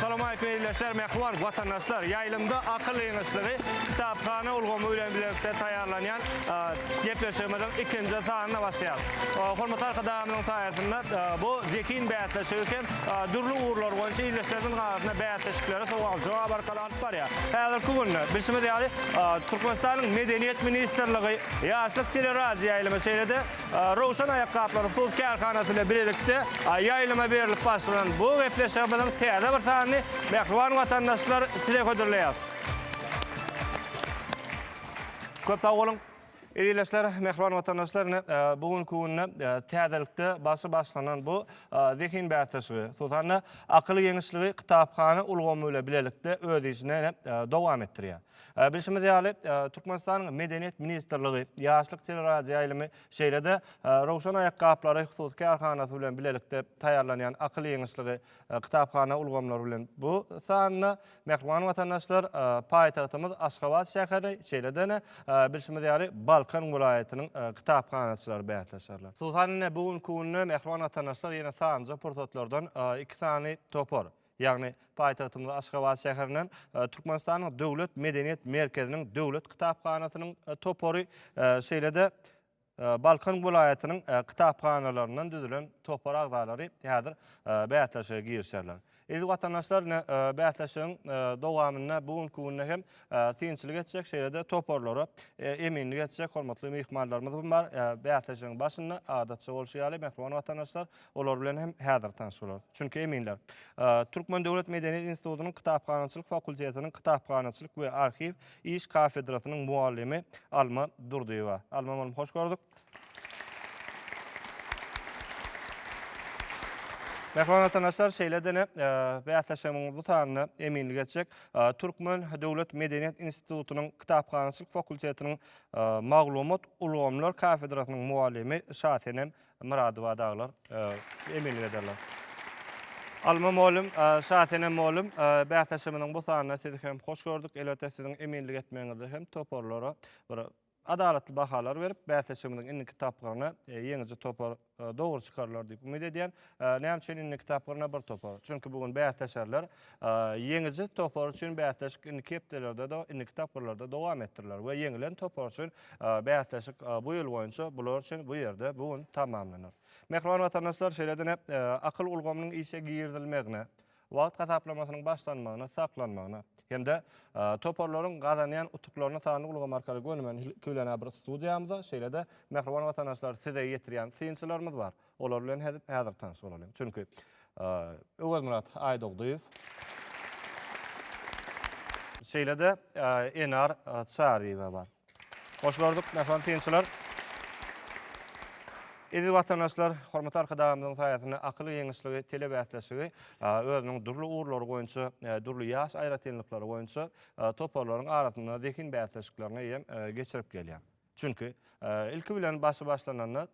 Assalamualeýkum ildeşler, mähriban watandaşlar. Ýaýlymda akyl ýygyşlygy kitaphana ulgamy bilen bilelikde taýýarlanýan gepleşigimiziň ikinji sanyna başlaýarys. Hormatly Arkadagymyzyň saýasynda bu zehin bäsleşigi hem dürli ugurlar boýunça ildeşlerimiziň arasynda bäsleşikleri, sowal-jogap arkaly alyp barýar. Häzirki günde, bilşimiz ýaly, Türkmenistanyň Medeniýet ministrligi, Ýaşlyk teleradioýaýlymy, şeýle-de Röwşen aýakgaplary hus kärhanasy bilen bilelikde ýaýlyma berlip başlanan bu gepleşigimiziň täze bir sanyny mähriban watandaşlar size hödürleýäris. Köp sag boluň! Ildeşler, mähriban watandaşlar, ine, e, bu günki günde e, täzelikde başy başlanan bu e, zehin bäsleşigi, hususan-da akyl ýeňişligi kitaphana ulgamy bilen bilelikde öz işini ine, e, dowam etdirýär. E, Bilşimiz ýaly, e, Türkmenistanyň Medeniýet ministrligi, Ýaşlyk teleradioýaýlymy, şeýle-de e, Rowşan aýakgaplary hususy kärhanasy bilen bilelikde taýýarlanýan akyl ýeňişligi e, kitaphana ulgamlary bilen bu sanda Mähriban watandaşlar, paýtagtymyz Aşgabat şäheri, şeýle-de, bilşimiz ýaly, Balkan welaýatynyň kitaphanaçylary bäsleşerler. Hususan, ine, bu günki günde, mähriban watandaşlar, ýene sanlyja pursatlardan iki sany topar, ýagny paýtagtymyz Aşgabat şäherinden Türkmenistanyň Döwlet medeniýet merkeziniň Döwlet kitaphanasynyň topary, şeýle-de, Balkan welaýatynyň kitaphanalaryndan düzülen topar agzalary häzir bäsleşige girişerler. Eziz watandaşlar, ine, bäsleşigiň dowamynda bu günki günde hem synçylyk etjek, şeýle-de toparlara eminlik etjek hormatly myhmanlarymyz hem bar. Bäsleşigiň başynda, adatça bolşy ýaly, mähriban watandaşlar, Olar bilen hem häzir tanyş bolarys. Çünki eminler. Türkmen döwlet medeniýet institutynyň kitaphanaçylyk fakultetiniň kitaphanaçylyk we arhiw iş kafedrasynyň mugallymy Alma Durdyýewa. Alma mugallym hoş gördük. Mehman watandaşlar şeýle-de bäsleşigimiň bu sanyna eminlik etjek Türkmen döwlet medeniýet institutynyň kitaphanaçylyk fakultetiniň maglumat ulgamlar kafedrasynyň mugallymy Şasenem Myradowa daglar eminlik ederler. Alma mugallym, Şasenem mugallym, bäsleşigimiziň bu sanynda sizi hem hoş gördük. Elbetde siziň eminlik etmegiňizde hem toparlara bir adalatly bahalar berip, bäsleşigimiziň indiki tapgyryna ýeňiji topar dogry çykarylar diýip umyt edýän. Näme üçin indiki tapgyryna bir topar? Çünki bu gün bäsleşerler. Ýeňiji topar üçin bäsleşik indiki hepdelerde-de, indiki tapgyrlarda dowam etdiriler we ýeňilen topar üçin bäsleşik bu ýyl boýunça bular üçin bu ýerde bu gün tamamlanar. Mähriban watandaşlar, şeýle-de akyl ulgamynyň işe girizilmegine, wagt hasaplamasynyň başlanmagyna, saklanmagyna hem-de toparlaryň gazanýan utuklaryny sanly ulgam arkaly gönümän iki bilen-ä bir studiýamyza, şeýle-de mähriban watandaşlar size ýetirýän synçylarymyz bar. Olar bilen häzir tanyş bolalyň. Çünki Öwezmyrat Aýdogdyýew. Şeýle-de Enar Çaryýewa bar. Hoş gördük, mähriban synçylar. Eziz watandaşlar, hormatly Arkadagymyzyň saýasynda akyl giňişligi telebäsleşigi özüniň dürli ugurlary boýunça, dürli ýaş aýratynlyklary boýunça toparlaryň arasynda zehin bäsleşiklerini hem geçirip gelýär. Çünki, ilki bilen başy başlananda,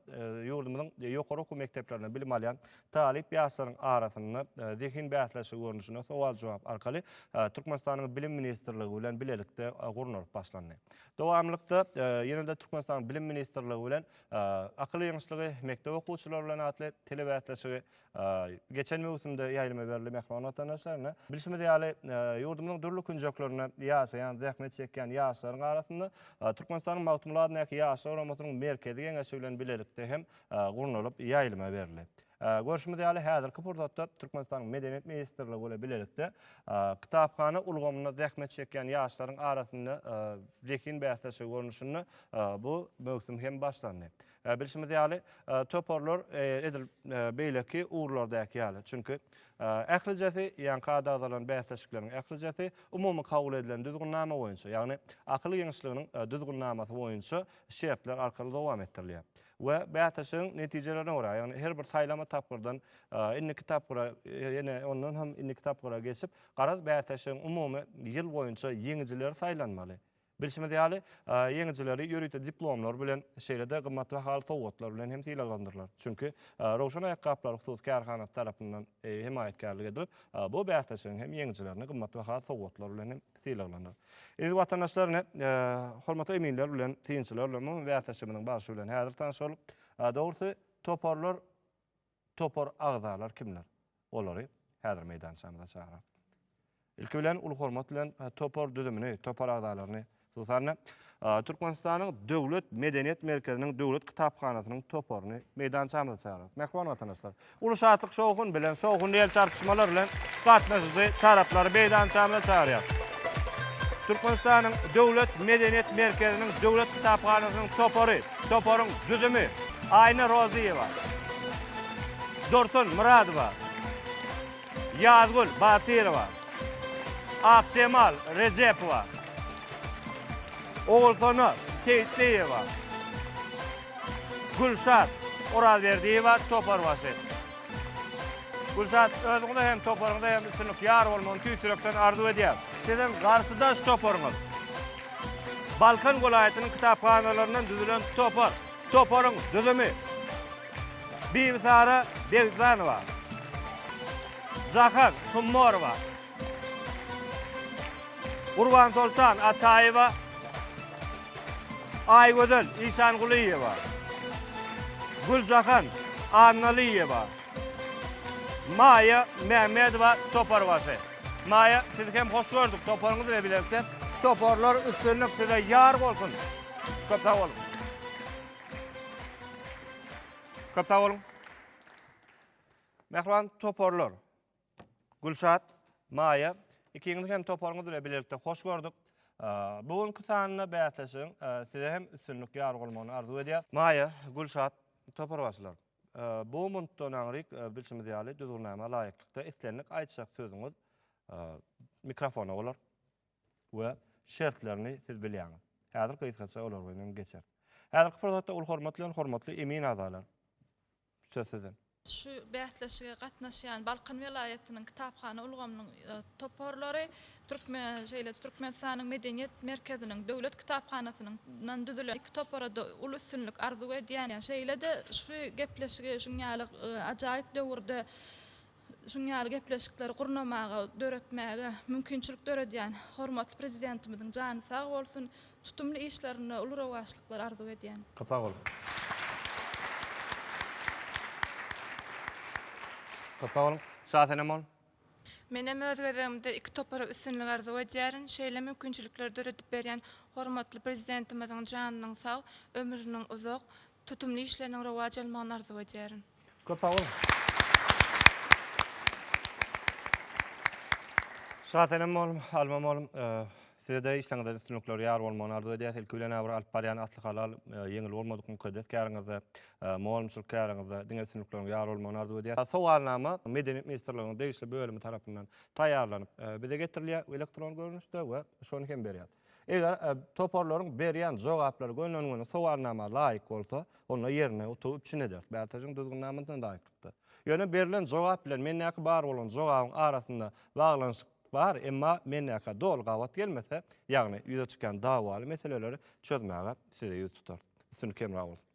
ýurdumyzyň ýokary okuw mekdeplerinde bilim alýan talyp ýaşlaryň arasynda zehin bäsleşigi görnüşinde sowal-jogap arkaly Türkmenistanyň Bilim ministrligi bilen bilelikde gurnalyp başlandy. Dowamlykda ýene-de Türkmenistanyň Bilim ministrligi bilen Akyl ýygynyşlygy mekdep okuwçylary bilen atly telebäsleşigi Geçen möwsümde ýaýlyma berli mähriban watandaşlaryna. Bilşimiz ýaly, ýurdumyzyň dürli künjeklerinde ýaşaýan, zähmet çekýän ýaşlaryň arasynda Türkmenistanyň Magtymguly adyndaky Ýaşlar guramasynyň Merkezi Geňeşi bilen bilelikde hem gurnalyp ýaýlyma berli. Görşümiz ýaly, häzirki pursatda Türkmenistanyň Medeniýet ministrligi bilen bilelikde kitaphana ulgamynda zähmet çekýän ýaşlaryň arasynda zehin bäsleşigi görnüşinde bu möwsüm hem başlandy. Bilşimiz ýaly, toparlar edil beýleki ugurlardaky ýaly, çünki ählijesi, ýaňky adagdalan bäsleşikleriň ählijesi umumy kabul edilen düzgünnama boýunça, ýagny Akyl giňişliginiň düzgünnamasy boýunça şertler arkaly dowam etdirilýär we bäsleşigiň netijelerine görä, ýagny her bir saýlama tapgyrdan indiki tapgyra, ýene ondan hem indiki tapgyra geçip, garaz, bäsleşigiň umumy ýyl boýunça ýeňijileri saýlanmaly. Bilşimiz ýaly, ýeňijileri ýörite diplomlar bilen, şeýle-de gymmatbahaly sowgatlar bilen hem sylaglandyrylar. Çünki Röwşen aýakgaplary hususy kärhanasy tarapyndan hemaýatkärlik edilip, bu bäsleşigiň hem ýeňijilerini gymmatbahaly sowgatlar bilen hem sylaglanar. Eziz watandaşlar, ine, hormatly eminler bilen, synçylar bilen mumy bäsleşigimiziň barşy bilen häzir tanyşalyk. Dogrusy, toparlar Topar agzalar kimler? Olary häzir meýdançamyza çagyrarys. Ilki bilen uly hormat bilen topar düzümini, topar agzalaryny, hususan-da, Türkmenistanyň Döwlet medeniýet merkeziniň Döwlet kitaphanasynyň toparyny meýdançamyza çagyrarys. Mähriban watandaşlar, uly şatlyk-şowhun bilen, şowhunly el çarpyşmalar bilen gatnaşyjy taraplary meýdançamyza çagyrýarys. Türkmenistanyň Döwlet medeniýet merkeziniň Döwlet kitaphanasynyň topary. Toparyň düzümi, Aýna Rozyýewa, Dursun Myradowa, Ýazgül Batyrowa, Akjemal Rejepowa, Ogulsona Seýitliýewa, Gülşat Orazberdiýewa, toparbaşy. Gülşat, özüňize hem toparyňyza hem üstünlik ýar bolmagyny tüýs ýürekden arzuw edýärin. Siziň garşydaş toparyňyz Balkan welaýatynyň kitaphanalaryndan düzülen topar. Toparyň düzümi, Bibisara Begzanowa, Zahar Summorowa, Gurbansoltan Ataýewa, Aýgözel Isangulyýewa, Güljahan Annalyýewa, Maýa Mämmedowa toparwasy. Maýa sizi hem hoş gördük toparyňyz bilen bilelikde. Toparlar üstünlik size ýar bolsun. Köp sag boluň. Köp sag boluň. Mähriban toparlar. Gülşat, Maýa ikiňizi hem toparyňyz bilen bilelikde hoş gördük. Bu günki sanda bäsleşigiň size hem üstünlik ýar bolmagyny arzuw edýäs. Maýa, Gülşat, topar başlar. Bu mundtdan aňryk, bilşimiz ýaly, düzgünnama laýyklykda islendik aýtjak sözüňiz mikrofona bolar we şertlerini siz bilýäňiz. Häzir gysgaça olar bilen geçeris. Häzirki pursatda uly hormat bilen hormatly emin agzalar, söz siziň. Şu bäsleşige gatnaşýan Balkan welaýatynyň kitaphana ulgamynyň toparlary Türkmen, şeýle-de Türkmenistanyň Medeniýet merkeziniň Döwlet kitaphanasynyň dan düzülen iki topara-da uly üstünlik arzuw edýän. Şeýle-de şu gepleşigi şuň ýaly ajaýyp döwürde şuň ýaly gepleşikleri gurnamaga, döretmäge mümkinçilik döredýän hormatly Prezidentimiziň jany sag bolsun, tutumly işlerinde uly rowaçlyklar arzuw edýän. Köp sag boluň. Köp sag boluň. Şasenem boluň. Menem öz gezegimde iki topara üstünlik arzuw edýärin. Şeýle mümkinçilikleri döredip berýän hormatly Prezidentimiziň janynyň sag, ömrüniň uzak, tutumly işleriniň rowaç almagyny arzuw edýärin. Köp sag boluň. Şasenem molum, Alma molum. Sizede işleriňizde üstünlikler ýar bolmagyny arzuw edýäs. Ilki bilen Abyr alyp barýan Asly Halal ýeňil bolmadyk mukaddes käriňizde, molumçylyk käriňizde diňe üstünlikleriň ýar bolmagyny arzuw edýäs. Sowalnama Medeniýet ministrliginiň degişli bölümi tarapyndan taýýarlanyp bize getirilýär elektron görnüşde we şony hem berýär. Eger toparlaryň berýän jogaplary gönenigini sowalnama laýyk bolsa, onda ýerine utugy üpjün ederis BATJ-yň düzgünnamasyna laýyklykda. Ýöne berilen jogap bilen mendäki bar bolan jogabyň arasynda baglanyşyk Bar, emma mendäkä doly gabat gelmese, ýagny ýüze çykýan dawaly meseleleri çözmäge size ýüz tutarys. Üstünlik hemra bolsun!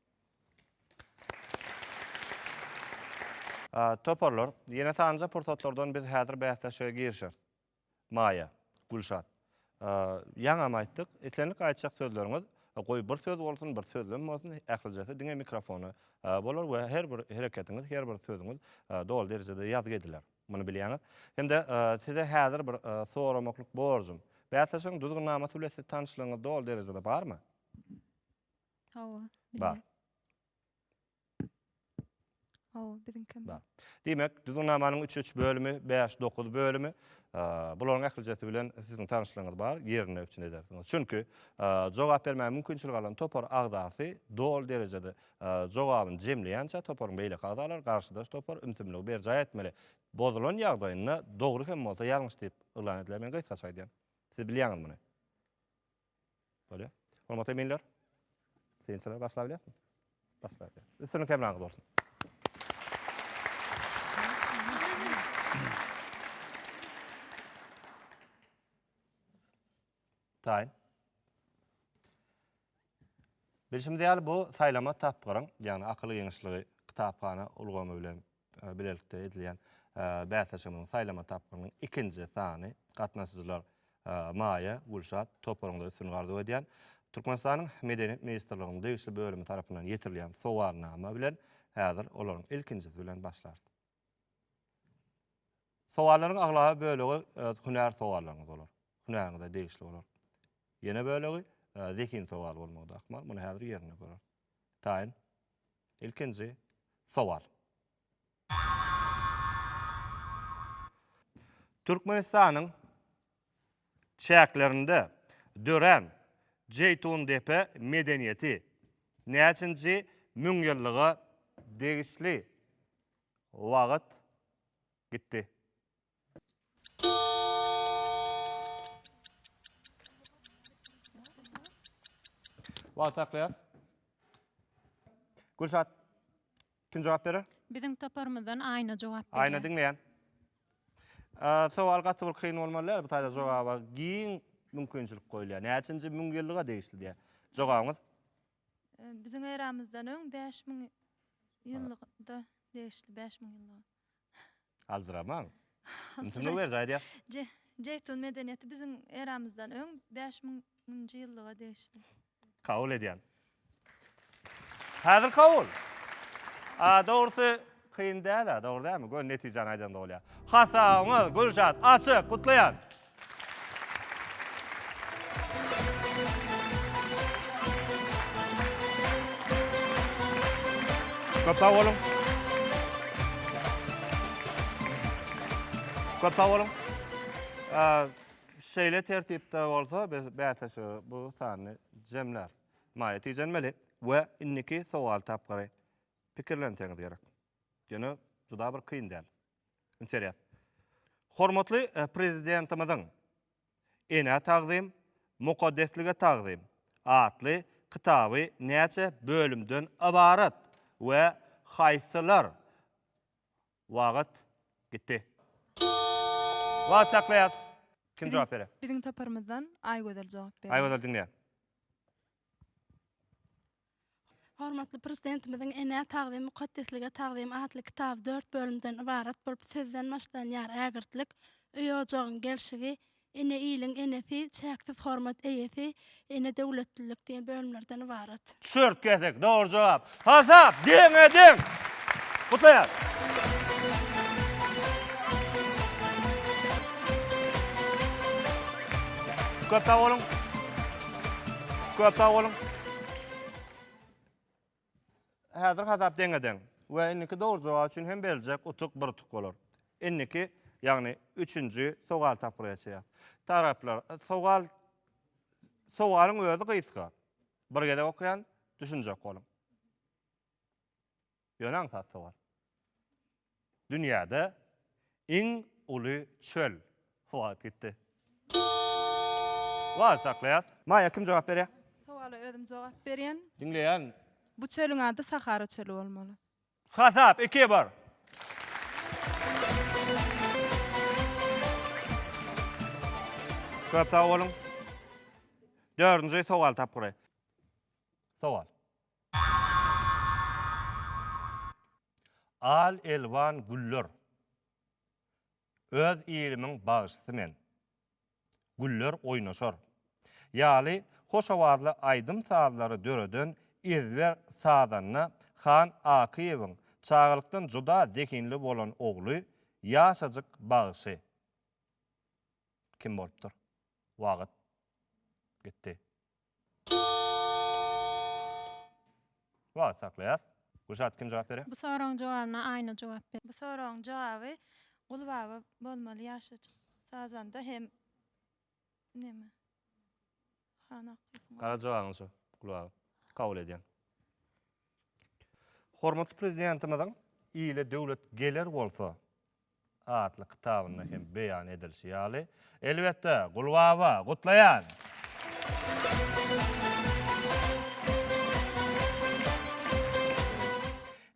Toparlar, ýene sanjy pursatlardan biz häzir bäsleşige girişeris. Maýa, Gülşat. Ýaňam aýtdyk, islendik aýtjak sözleriňiz, goý bir söz bolsun, bir sözlem bolsun, ählijesi diňe mikrofona bolar we her bir hereketiňiz, her bir sözüňiz doly derejede ýazgy ediler. Muny bilýäňiz. Hem-de size häzir bir soramaklyk borjum. Bäsleşigiň düzgünnamasy bilen siz tanyşlygyňyz doly derejede barmy? Hawa, Bar. Hawa, biziňkem bar. Diýmek, düzgünnamanyň üç üç bölümi, bäş, dokuz bölümi, bularyň ählijesi bilen siziň tanyşlygyňyz bar, ýerinde üpjün edersiňiz. Çünki jogap bermäge mümkinçilik alan topar agzasy doly derejede Jogabyny jemleýänçä toparyň beýleki agzalary garşydaş topar ümsümligi berjaý etmeli. Bozulan ýagdaýynda dogry hem bolsa ýalňyş diýip yglan ediler. Men gysgaça aýdýan. Siz bilýäňiz muny. Bolýa. Hormatly eminler. Synçylar başlap bilýäsmi? Başlap bilýär. Üstünlik hemraňyz bolsun. Taýyn. Bilşimiz ýaly, bu saýlama tapgyryň, ýagny akyl giňişligi kitaphana ulgamy bilen bilelikde edilýän bäsleşigimiziň saýlama tapgyrynyň ikinji sany. Gatnaşyjylar Maýa, Gülşat toparyňda üstünlik arzuw edýän. Türkmenistanyň Medeniýet ministrliginiň degişli bölümi tarapyndan ýetirilýän sowalnama bilen häzir olaryň ilkinjisi bilen başlarys. Sowallaryň aglaba bölegi e, hünär sowallaryňyz bolar. Hünäriňize degişli bolar. Ýene bölegi e, zehin sowal bolmagy ahmal. Muny häzir ýerinde görer. Taýyn. Ilkinji sowal. Türkmenistanyň çäklerinde dörän Jeýtundepe medeniýeti näçinji müňýyllyga degişli? Wagt gitdi. Wagty saklaýas. Gülşat. Kim jogap berer? Biziň toparymyzdan Aýna jogap berýär. Aýna diňleýän. Sowal gaty bir kyn bolmaly däl, bu taýda jogaba giň mümkinçilik goýulýar. Näçinji müňýyllyga degişli diýýär. Jogabyňyz? Biziň eramyzdan öň bäş müň ýyllygda degişli, bäş müň ýyllyga. Aljyramaň. Yntynyp ber, jaýdýas. Jeýtun medeniýeti biziň eramyzdan öň bäş müňünji ýyllyga degişli. Kabul edýän. Häzir kabul. A, dogrusy, kyn däl-ä, dogry dälmi? Gör, netijäni aýdanda bolýar. Hasabyňyz, Gülşat, açyk! Gutlaýan! Köp sag boluň. Köp sag boluň. Şeýle tertipde bolsa biz bäsleşige bu sany jemläris. Maýa tijenmeli we indiki sowal tapgyry pikirlenseňiz gerek. Ýöne juda bir kyn däl. Interes. Hormatly Prezidentimiziň Enä tagzym, mukaddeslige tagzym atly kitaby näçe bölümden ybarat we haýsylar wagt gitdi? Wagt saklaýas. Kim jogap berer? Biziň toparymyzdan Aýgözel jogap berer. Aýgözel diňleýän. Hormatly Prezidentimiziň Enä tagzym, mukaddeslige tagzym atly kitaby dört bölümden ybarat bolup, sözden başlanýar, Ägirtlik, öý-ojagyň gelşigi, Ene iliň enesi, Çäksiz hormat eýesi, Ene döwletlilik diýen bölümlerden ybarat. Çört kesek, dogry jogap. Hasap, deňe deň! Gutlaýarys! Köp sag boluň! Köp sag boluň! Häzir hasap deňe-deň we indiki dogry jogap üçin hem beriljek utuk bir utuk bolar. Indiki, ýagny üçünji sowal tapgyry geçýär. Taraplar, sowal sowalyň özi gysga. Bir gezek okaýan, düşünjek boluň. Ýöne aňsat sowal. Dünýäde iň uly çöl. Wagt gitdi. Wagt saklaýas. Maýa kim jogap berýär? Sowala özüm jogap berýän. Diňleýän. Bu çölüň ady Sahara çöli bolmaly. Hasap iki bir. Köp sag boluň. Dördünji sowal tapgyry. Sowal. Al-elwan güller Öz ilimiň bagşysy men Güller oýnaşar ýaly hoş owazly aýdym-sazlary döreden ezber sazanda Han Akyýewiň çagalykdan juda zehinli bolan ogly, ýaşajyk bagşy kim bolupdyr? Wagt gitdi. Wagt saklaýas. Gülşat kim jogap berýär? Bu soragyň jogabyna Aýna jogap berýär. Bu soragyň jogaby Gulbaba bolmaly ýaşajyk sazanda hem neme Han Akylyň ogly. Gara jogabyň şu Gulbaba. Kabul edýän. Hormatly Prezidentimiziň ile döwlet geler bolsa atly kitabynda hem beýan edilişi ýaly. Elbetde, Gulbaba, gutlaýan!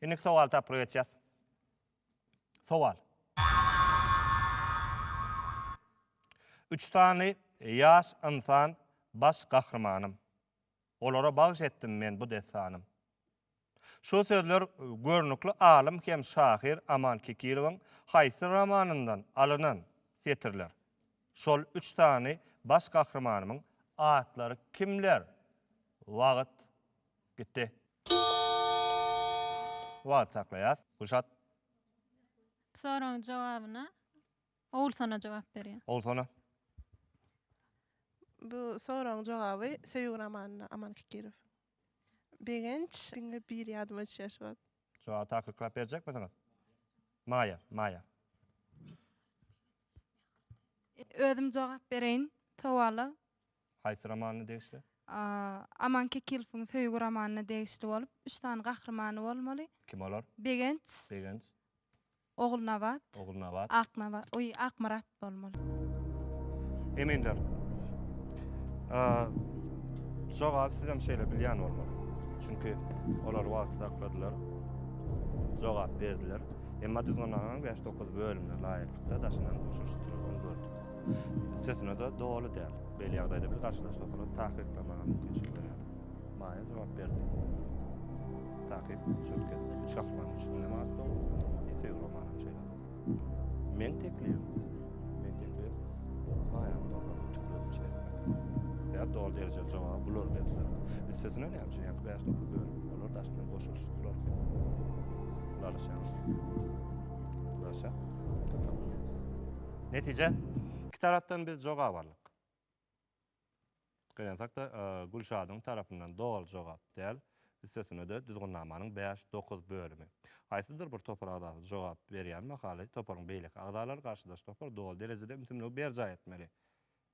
Indiki sowal tapgyry geçýäs. Sowal. Üç sany ýaş ynsan baş gahrymanym. Olara bagş etdim men bu dessanym. Şu sözler görnükli alym hem şahyr Aman Kekilowyň haýsy romanyndan alynan setirler? Şol üç sany baş gahrymanymyň atlary kimler? Wagt gitdi. Wagt saklaýas. Gülşat. Bu soragyň jogabyna Ogulsona jogap berýär. Ogulsona. Bu soragyň jogaby Söýgi romanynda Aman Kikirow. Begenç diňe biri ýadyma düşýär şu wagt. Jogaby takyklap berjekmisiňiz? Maýa, Maýa. Özüm jogap bereýin sowala. Haýsy romanyna degişli? Aman Kikilowyň Söýgi romanyna degişli bolup, üç sany gahrymany bolmaly. Kim olar? Begenç. Begenç. Ogulnabat. Ogulnabat. Aknaba, oý, Akmyrat bolmaly. Eminler. A, jogaby sizem şeýle bilýän bolmaly. Çünki olar wagty sakladylar. Jogap berdiler. Emma düzgünnamanyn bäş dokuz bölümine laýyklykda daşynan boşaşdyryldygyny gördük. Üstesine-de doly däl. Beýle ýagdaýda biz garşydaş toparyň takyklamaga mümkinçilik berýärdi. Maýa jogap berdi. Takyk, şöhket, üç aklanyň üçünde manat dolu, iki euro manat şeýle. Men teklibim, men teklibim, maýany dollaryň tükleri üçin etmek. Ýa dol derejeli jogaby bular berdiler. Üstesine näme üçin ýa bäş topar bölüp, olar daş bilen goşulyşdylar. Laşaň. Laşa. Netije, iki tarapdan biz jogap aldyk. Gynansakda, Gülşadyň tarapyndan doly jogap däl, üstesine-de düzgünnamanyň bäş, dokuz bölümi. Haýsydyr bir topar agzasy jogap berýän mahaly, toparyň beýleki agzalary garşydaş topar doly derejede ümsümligi berjaý etmeli.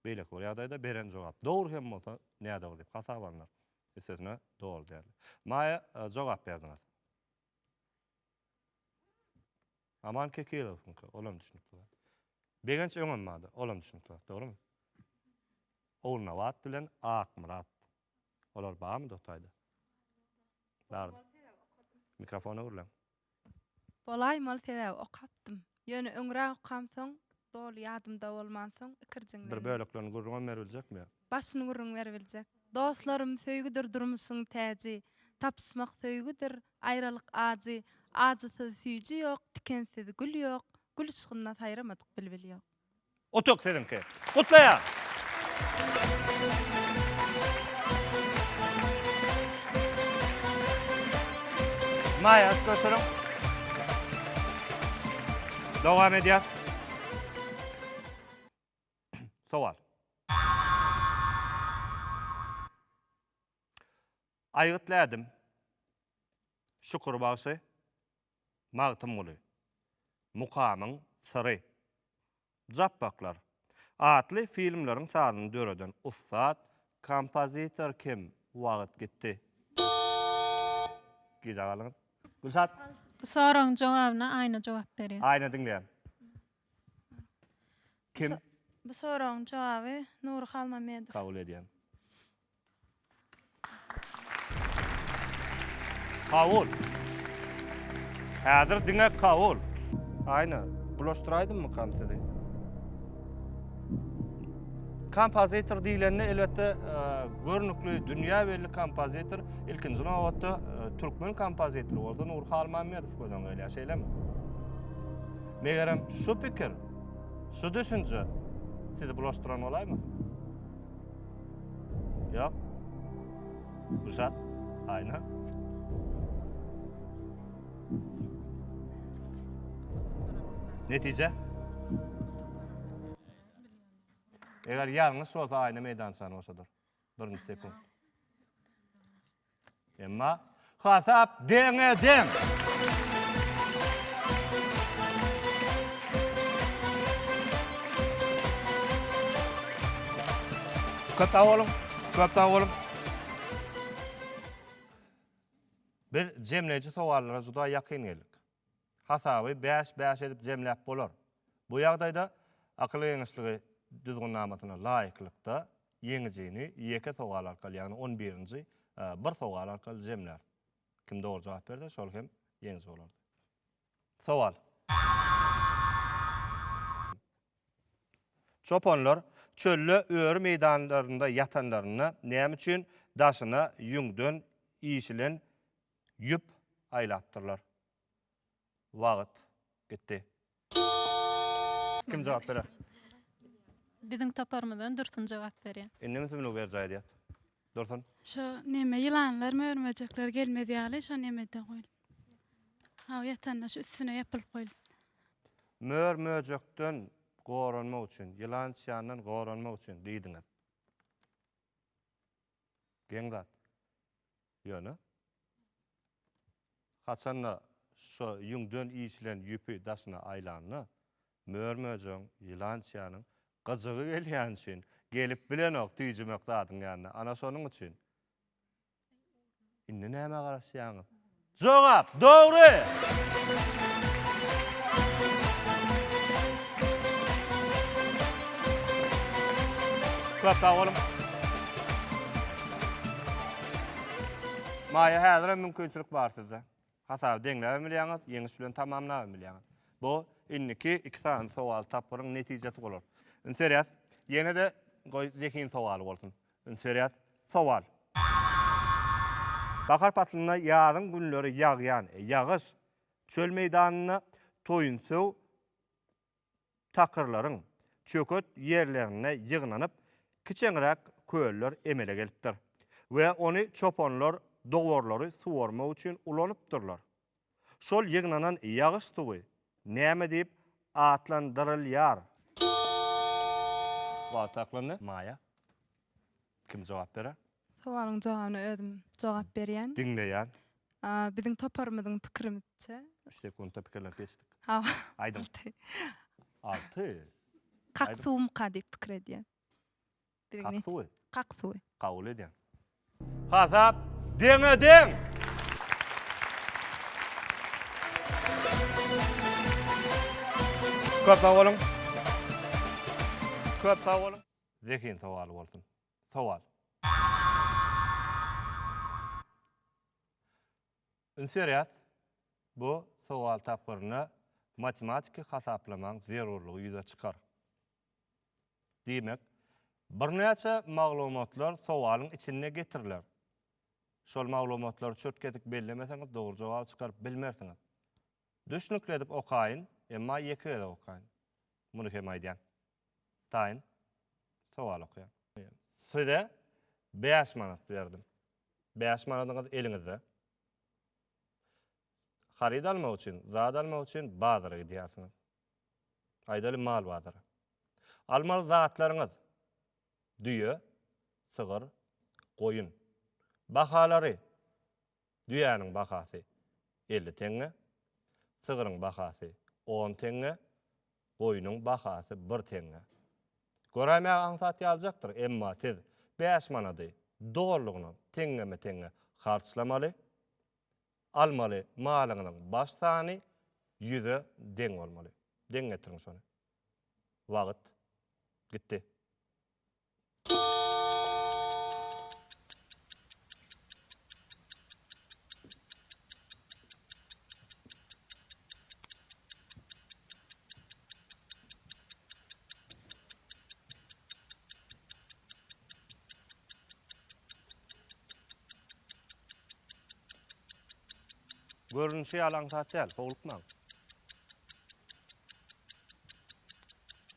Beýleki bir ýagdaýda beren jogap dogry hem bolsa, nädogry diýip hasap alnar. Üstesine, doly däl. Maýa, jogap berdiňiz. Aman Kekilowyňky, olam düşünikli zat. Begenç Öňenmada, olam düşünikli zat, dogrumy? Ogulnabat bilen Akmyrat. Olar barmy Dotaýda? Bardy. Mikrofona gürläň. Bolaýmaly sebäbi okapdym. Ýöne öňräk okamsoň, doly ýadymda bolmansoň, ikirjiňlendim. Bir böleklerini gürrüňem beribiljekmi? Başyny gürrüň beribiljek. Dostlarym söýgüdir durmuşyň täji, Tapyşmak söýgüdir, aýralyk ajy, Ajysyz süýji ýok, tikensiz gül ýok, Gül yşkynda saýramadyk bilbil ýok. Utuk siziňki. Gutlaýan! Maýa üstüne sürüň. Dowam edýäs. Sowal. Aýgytly ädim, Şükür bagşy, Magtymguly, Mukamyň syry, Japbaklar atly filmleriň sazyny döreden ussat kompozitor kim? Wagt gitdi. Gijä galyňyz. Gülşat. Bu soragyň jogabyna Aýna jogap berýär. Aýna diňleýän. Kim? Bu soragyň jogaby Nury Halmamedow. Kabul edýän. Kabul. Häzir diňe kabul. Aýna, bulaşdyraýdymmykam sizi? Kompozitor diýlende elbetde e, görnükli dünýä belli kompozitor, ilkinji nobatda e, türkmen kompozitory bolsa Nur Halmamedow gözden gelýär, şeýlemi? Megerem şu pikir, şu düşünje sizi bulaşdyran bolaýmasyn? Ýok. Gülşat, Aýna. Netije? Eger ýalňyş bolsa Aýna meýdançany boşadar. Birinji sekunt. Emma hasap deňe deň. Köp sag boluň. Köp sag boluň. Biz jemleýji sowallara juda ýakyn geldik. hasaby bäş-bäş edip jemläp bolar. Bu ýagdaýda akyl geňeşligi Düzgünnamasyna laýyklykda ýeňijini ýeke sowal arkaly, ýagny on birinji bir sowal arkaly jemlär. Kim dogry jogap berse, şol hem ýeňiji bolardy. Sowal. Çopanlar çölde öri meýdanlarynda ýatanlarynda näme üçin daşyna ýüňden işilen ýüp aýlapdyrlar? Wagt. Gitdi. Kim jogap berer? Biziň toparymyzdan Dursun jogap berýär. Indi ünsüňi berjaý edýäs. Dursun. Şo neme ýylanlar mörmejekler gelmez ýaly şo nemede goýulyp. Hawa ýatanda şu üstüne ýapylyp goýulyp. Mör möjekden goranmak üçin, ýylan çyandan goranmak üçin diýdiňiz. Geň zat. Ýöne, haçan-da şo ýüňden işilen ýüpi daşyna aýlanda, mör-möjegiň, ýylançyýanyň gyjygy gelýäni üçin, gelip bilenok tüýjümek zadyň ýanyna. Ana şonuň üçin. Indi nämä garaşýaňyz? Jogap, Dogry! Köp sag boluň! Maýa häzir hem mümkinçilik bar sizde. Hasaby deňläbem bilýäňiz, ýeňiş bilen tamamlabam bilýäňiz. Bu indiki iki sany sowal tapgyryň netijesi bolar. Üns berýäs. Ýene-de goý zehin sowaly bolsun. Üns berýäs. Sowal. Bahar paslynda ýazyň günleri ýagýan ýagyş çöl meýdanynda toýunsöw takyrlaryň çöket ýerlerinde ýygnanyp, kiçeňräk köller emele gelipdir we ony çopanlar dowarlary suwarmak üçin ulanypdyrlar. Şol ýygnanan ýagyş suwy näme diýip atlandyrylýar? Wagt saklandy. Maýa. Kim jogap berer? Sowalyň jogabyna özüm jogap berýän. Diňleýän. Biziň toparymyzyň pikirimizçe. Üç sekuntda pikirlenip geçdik. Hawa. Aýdyň. Alty. Alty? Kak suwumka diýip pikir edýän. Kak suwy? Kak suwy. Kabul edýän. Hasap deňe-deň! Köp sag boluň. Köp sag boluň. Zehin sowaly bolsun. Sowal. Üns berýäs, bu sowal tapgyrynda matematiki hasaplamaň zerurlygy ýüze çykar. Diýmek, birnäçe maglumatlar sowalyň içinde getiriler. Şol maglumatlary çürt-kesik bellemeseňiz dogry jogaby çykaryp bilmersiňiz. Düşnükli edip okaýyn, emma ýeke gezek okaýyn. Muny hem aýdýan. Taýyn sowal okaýan. Size bäş manat berdim. Bäş manadyňyz eliňizde. Haryt almak üçin, zat almak üçin bazara gidýärsiňiz. Aýdaly mal bazara. Almaly zatlaryňyz, düýe, sygyr, goýun. Bahalary Düýäniň bahasy elli teňňe, sygryň bahasy on teňňe, goýnuň bahasy bir teňňe. Göräýmäge aňsat ýalyjakdyr, emma siz bäş manady dolulygyna teňňeme-teňňe harçlamaly, almaly malyňyzyň baş sany ýüze deň bolmaly. Deň getiriň şony. Wagt gitdi. Görünüşi ýaly aňsat däl, howlukmaň.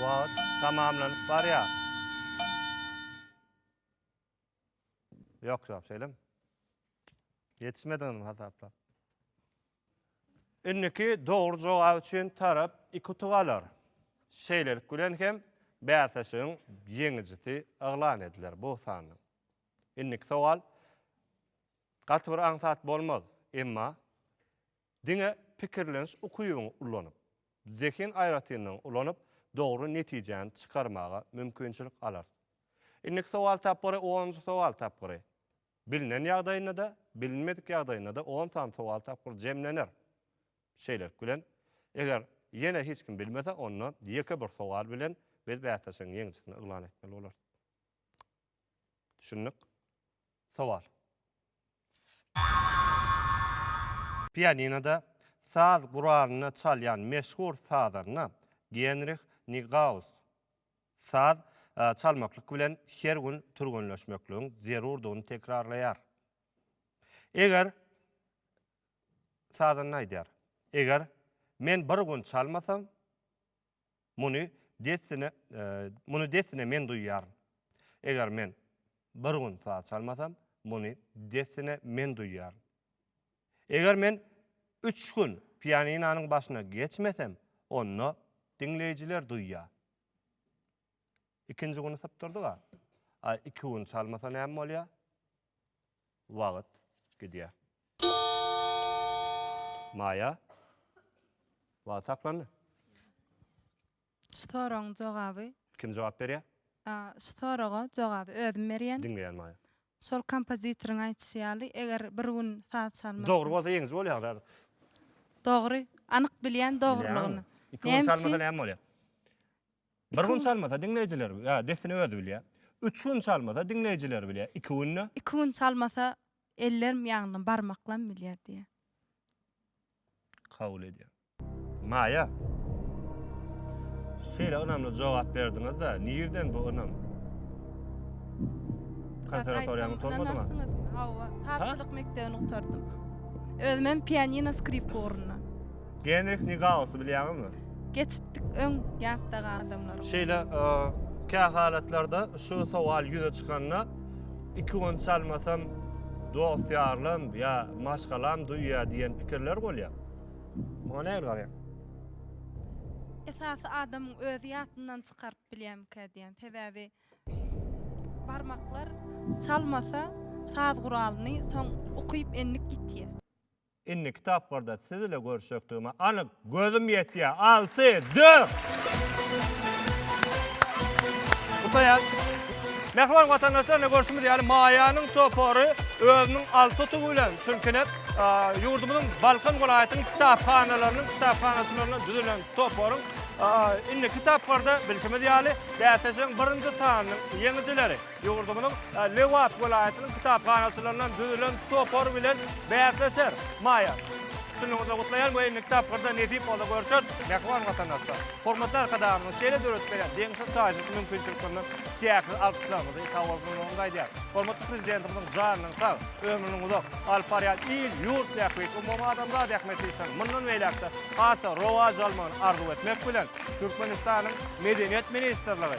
Wagt tamamlanyp barýar. Ýok, ýok, şeýlemi? Ýetişmediňizmi hasaplap? Indiki dogry jogap üçin tarap iki utuk alar. Şeýlelik bilen hem bäsleşigiň ýeňijisi yglan ediler bu sanyň. Indiki sowal gaty bir aňsat bolmaz, emma Diňe pikirleniş ukybyňy ulanyp, zehin aýratynlygyňy ulanyp, dogry netijäni çykarmaga mümkinçilik alarys. Indiki sowal tapgyry onunjy sowal tapgyry. Bilnen ýagdaýynda-da, bilinmedik ýagdaýynda-da on sany sowal tapgyry jemlener. Şeýlelik bilen, eger ýene hiç kim bilmese, onda ýeke bir sowal bilen biz bäsleşigiň ýeňijisini yglan etmeli bolarys. Düşündik. Sowal. Pianinoda saz guralyny çalýan meşhur sazanda Genrih Nigaus saz çalmaklyk bilen her gün türgenleşmekligiň zerurdygyny tekrarlaýar. Eger sazanda aýdýar. Eger men bir gün çalmasam, Muny dessine, muny dessine men duýýaryn. Eger men bir gün saz çalmasam, muny dessine men duýýaryn. Eger men üç gün pianinanyň başyna geçmesem, onda diňleýjiler duýýar. Ikinji güni sypdyrdyga, a iki gün çalmasa näme bolýar? Wagt gidýär. Maýa. Wagt saklandy. Şu soragyň jogaby. Kim jogap berýär? A, şu soraga jogaby özüm berýän. Diňleýän Maýa. Şol kompozitoryň aýtşy ýaly, eger bir gün saz çalmak. Dogry bolsa ýeňiji bolýaňyz häzir. Dogry. Anyk bilýän dogrylygyny. Bilýäňizmi? Iki gün çalmasa näme bolýar? Bir gün çalmasa diňleýjiler ýa dessine özi bilýär. Üç gün çalmasa diňleýjiler bilýär. Iki günde. Iki gün çalmasa ellerim ýagny barmaklam bilýär diýýär. Kabul edýän. Maýa. Şeýle ynamly jogap berdiňizda nirden bu ynam? Konserwatoriýany gutarmadyňa? Hawa, sazçylyk mekdebini gutardym. Özümem pianino skripka ugrunda. Genrih Nigausy bilýäňizmi? Geçipdik öň ýatdagy adamlarym. Şeýle kä halatlarda şu sowal ýüze çykanda iki gün çalmasam dost-ýarym ýa maşgalam duýýar diýen pikirler bolýar. Muňa nähili garaýaň? Esasy adamyň özi ýatyndan çykaryp bilýärmikä diýýän. Sebäbi barmaklar çalmasa saz guralyny soň ukyp endik ýitýär. Indiki tapgyrda siz ile görüşjekdigime anyk gözüm ýetýä alty dört. Gutaýar. Mähriban watandaşlar ine görşümiz ýaly Maýanyň topary özüniň alty tutugy bilen çünki ine ýurdumyzyň Balkan welaýatynyň kitaphanalarynyň kitaphanaçylaryndan düzülen toparyň indiki tapgyrda bilşimiz ýaly bäsleşigiň birinji sanynyň ýeňijileri. Ýurdumyzyň Lebap welaýatynyň kitaphanaçylaryndan düzülen topar bilen bäsleşer. Maýa, üstünligiňizi gutlaýan we indiki tapgyrda nesip bolsa görüşer. Mähriban watandaşlar, hormatly Arkadagymyzyň şeýle döredip berýän deňsiz-taýsyz mümkinçiliklerinden çäksiz alkyşlarymyzy, sag bolsunlarymyzy aýdýarys. Hormatly Prezidentimiziň janynyň sag, ömrüniň uzak, alyp barýan il, ýurt bähbit, umumadamzat ähmiýetli işleriniň mundan beýläk-de has-da rowaç almagyny arzuw etmek bilen, Türkmenistanyň Medeniýet ministrligi,